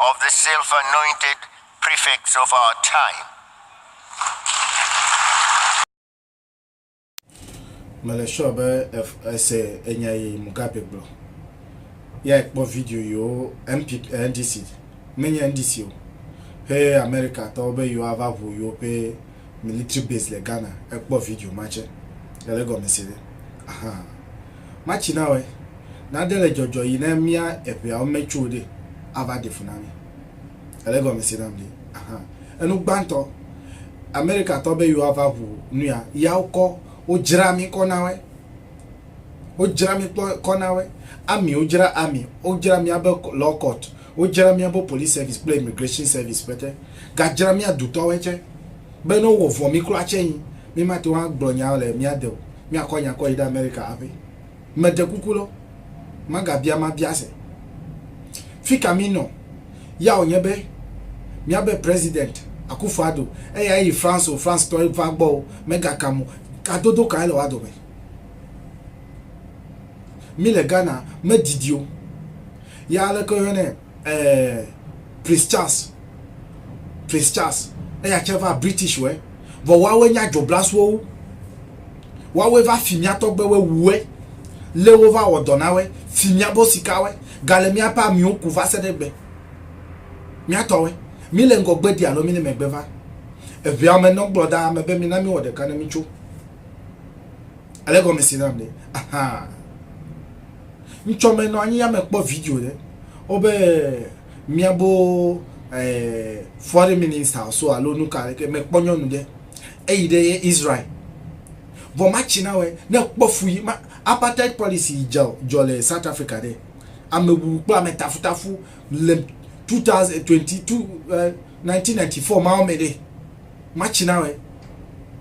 of the self anointed prefects of our time. Mele sure be ese enya yi Mugabe gblɔ. Ya ekpɔ video yiwo MP eh, NDC menye NDC o. Ƒe America tɔwo be yewoa va ʋu yewo ƒe military base le Ghana ekpɔ video ma tse. Ele gɔme se ɖe. Ahaa. Matsi na wɔe, nade le dzɔdzɔ yi ne mía eŋeawo me tso ɖe ava ɖe fu na mi. Ele gɔme se nam ɖe ahan. Enu gbãtɔ, Amerika tɔ be yewo ava ŋu nuya, ya wo kɔ, wo dzra mi kɔ na wɔe. Wo dzra mi kpɔ kɔ na wɔe. Army wo dzra army, wo dzra mía be law court, wo dzra mía be police service kple immigration service pɛtɛ. Ga dzra mía dutɔ wɔe tsɛ. be ne wowɔ vɔ mí kura tsɛ nyi, mímate ŋu agblɔ nya le mía de o, míakɔ nya kɔ yi ɖe Amerika haƒe. Meɖe kuku lɔ, magabia ma biase. Fika mínɔ ya wònye be míabe President, Akufo Addo, eya eyi France o, France tɔ ye va gbɔ o, megakam o, gadodo kae le woa dome? Mí le Ghana, medidi o. Ya aleke woyɔnɛ? eh, Prince Charles, Prince Charles, eya tse va British wɛ, vɔ woawoe nye adzoblasowo, woawoe va fi mía tɔgbewoe wuwɛ, lé wova wɔ dɔ na wɛ, fi míabo sikawɛ, gale míaƒe amiwo ku va se ɖe egbe. Mía tɔwɛ, mí le ŋgɔ gbedi alo mí le megbe va. Eŋɛa me nɔ gblɔ ɖaa me be mina mí wɔ ɖeka ne mí tso. Ele gɔme si nam ɖe? Ahaa. ŋtsɔ me nɔ anyi ya me kpɔ video ɖe wo be miabo eh, foreign minister so alo nu ka ɖeke me kpɔ nyɔnu ɖe eyi ɖe ye israel vɔ ma tsi na wɛ ne kpɔ fu yi ma apartheid policy jɔ jɔ le south africa ɖe ame wuwu kple ame tafutafu le 2022 1994 ma wo me ɖe ma tsi na wɛ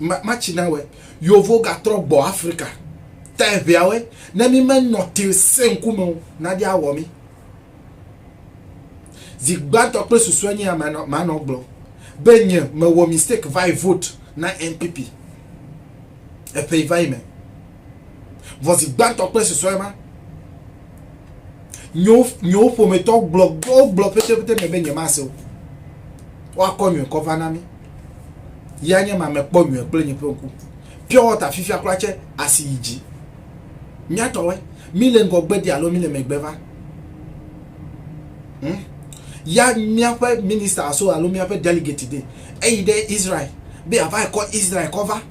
ma ma tsi na wɛ yovo gatrɔ gbɔ afrika ta eʋea wɛ ne mi me nɔ te se ŋkume o na ɖi awɔ mi zi gbãtɔ kple susue nye ya ma nɔ gblɔ be nye me wɔ mistake va yi vote na npp eƒe yi va yi me vɔ zi gbãtɔ kple susue ma Nyo nyo ƒometɔ gblɔ gblɔ gblɔ pete pete me be nye ma se o. Wa kɔ nyo kɔ va na mi. Ya nye ma me kpɔ nyo kple nye ƒe ku. Pure water fifia kura che asi yi ji. Mia tɔ we mi le ngɔ gbe di alo mi le me gbe va. Hmm? Ya mia ƒe minister so alo mia ƒe delegate de. Eyi de Israel. Be ava kɔ Israel kɔ va.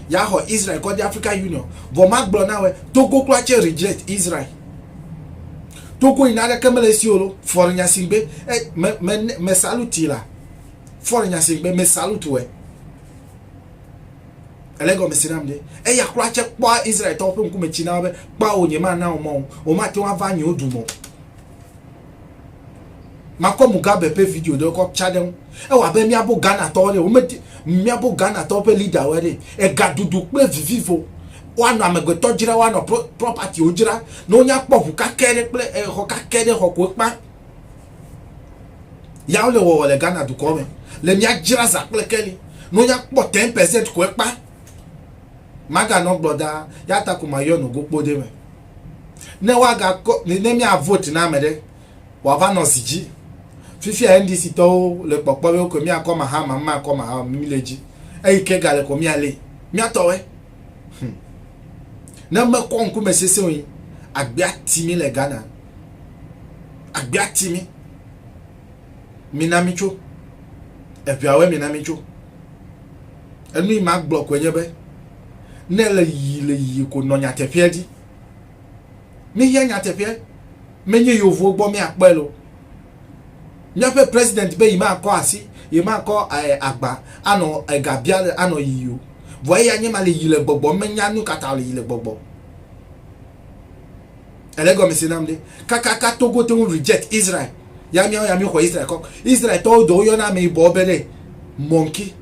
ya xɔ Israel kɔ de Africa Union vɔ ma gblɔ na wɛ Togo kura tse reject Israel Togo yi na ɖe ke mele si olo fɔre nya si gbe e me me me saluti la fɔre nya si gbe me saluti wɛ ele gɔme si nam de eya kura tse kpɔ Israel tɔwo ƒe ŋkume tsi na wo be kpɔ wo nye ma na wo mɔ wo ma te wo ava nyewo du mɔ Makɔ Mugabe ƒe video ɖe kɔ tsa ɖe ŋu. Ewɔ abe míabo Ghanatɔwo ɖe wome míabo Ghanatɔwo ƒe leaderwoe ɖe. Egaɖuɖu kple vivivo. Woanɔ amegbetɔ dzra woanɔ propertywo dzra ne wonya kpɔ ŋu kakɛ ɖe kple exɔ kakɛ ɖe xɔ ko ekpa. Ya wole wɔwɔ le Ghana dukɔ me. Le mía dzra za kple keli ne wonya kpɔ ten percent ko ekpa. Maganɔ gblɔ ɖaa. Ya ta ko mayɔe nɔ gokpo ɖe me. ne woagakɔ ne mia vote na ame ɖe wòava nɔ zi dzi. Fifia NDC tɔwo le kpɔkpɔ be wokɔ miakɔ Mahama, makɔ Mahama, mi le dzi. Eyi ke gale kɔ mia le. Miatɔwe. Hmm. Ne mekɔ ŋkume sese wo agbea ti mi le Ghana. Agbea ti mi. Mina mi tso. Eviawe mina mi tso. Enu yi magblɔ koe nye be, ne èle yiyim le yiyim ko nɔ nyateƒea dzi. Míehiã nyateƒea. Menye yevuwo gbɔ míakpɔe le o. Míaƒe president be yemakɔ asi, yemakɔ eh, agba anɔ eh, ga bia le anɔ yiyi o. Vɔ eya nye ma le yi le gbɔgbɔ, menya nu ka ta le yi le gbɔgbɔ. Ele gɔmese nam ɖe. Kakaka Togo te ŋu reject Israel. Ya miawo ya mi xɔ Israel kɔ. Israel tɔwo dɔ woyɔna ame yibɔ be ɖe monkey.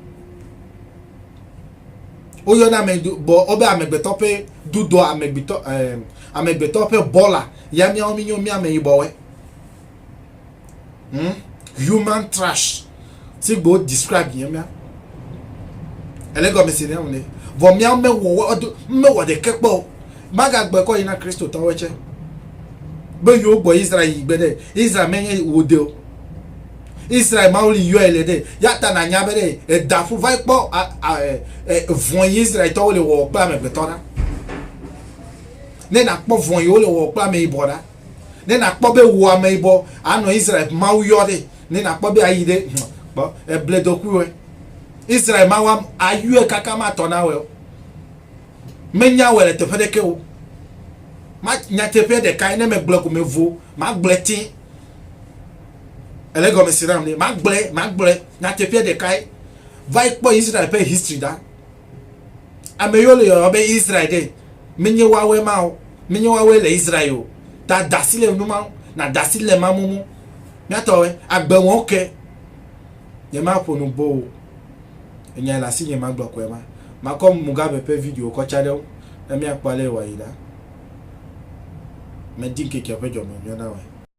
Woyɔna ame bɔ wobe amegbetɔ ƒe dudɔ amegbetɔ eh, amegbetɔ ƒe bɔla. Ya miawo mi nyo mi ame yibɔwe. hmm? human trash si gbe describe yẹn mía ẹlẹgọmi si nìyẹn wòle vɔ mía mewɔ ọdún mewɔ ɖeke kpɔ o magagbe kɔ yina kristu tɔwɔ tsɛ be yewo gbɔ israel yi gbe ɖe israel menye wòde o israel mawu li yɔe le ɖe yata na nya be ɖe edafu va kpɔ vɔn yi israel tɔwo le wɔwɔ kple amegbetɔ ɖa ne nakpɔ vɔn yi wole wɔwɔ kple ameyibɔ ɖa. Ne nàkpɔ be wò ameyibɔ anɔ Israel ƒe Mawu yɔ ɖe, ne nàkpɔ be ayi ɖe, hm, kpɔ, èble dokuiwɔe. Israel Mawu am, ayɔe kaka matɔ na wòe o. Menya wòe le teƒe ɖeke o. Ma, nyateƒea ɖekae, ne megblɔe ko mevo, magblɔe tẽ. Ele gɔme se nam ɖe, magblɔe, magblɔe, nyateƒea ɖekae. Va yi kpɔ Israel ƒe history ɖa. Ame yiwo le yɔyɔ be Israel ɖe, menye woawoe ma o, menye woawoe le Israel o. Ta da asi le nu ma ŋu, nàda asi le ema mum. Mía tɔwoe, agbe wɔm ke. Nyemaƒo nu boo o. Enyae le asinye magblɔ koe ma. Makɔ Mugabe ƒe video kɔ tsa ɖe eŋu ne míakpɔ ale wòayi ɖa. Medi ŋkeke ƒe dzɔmeŋunyɔnawɔe.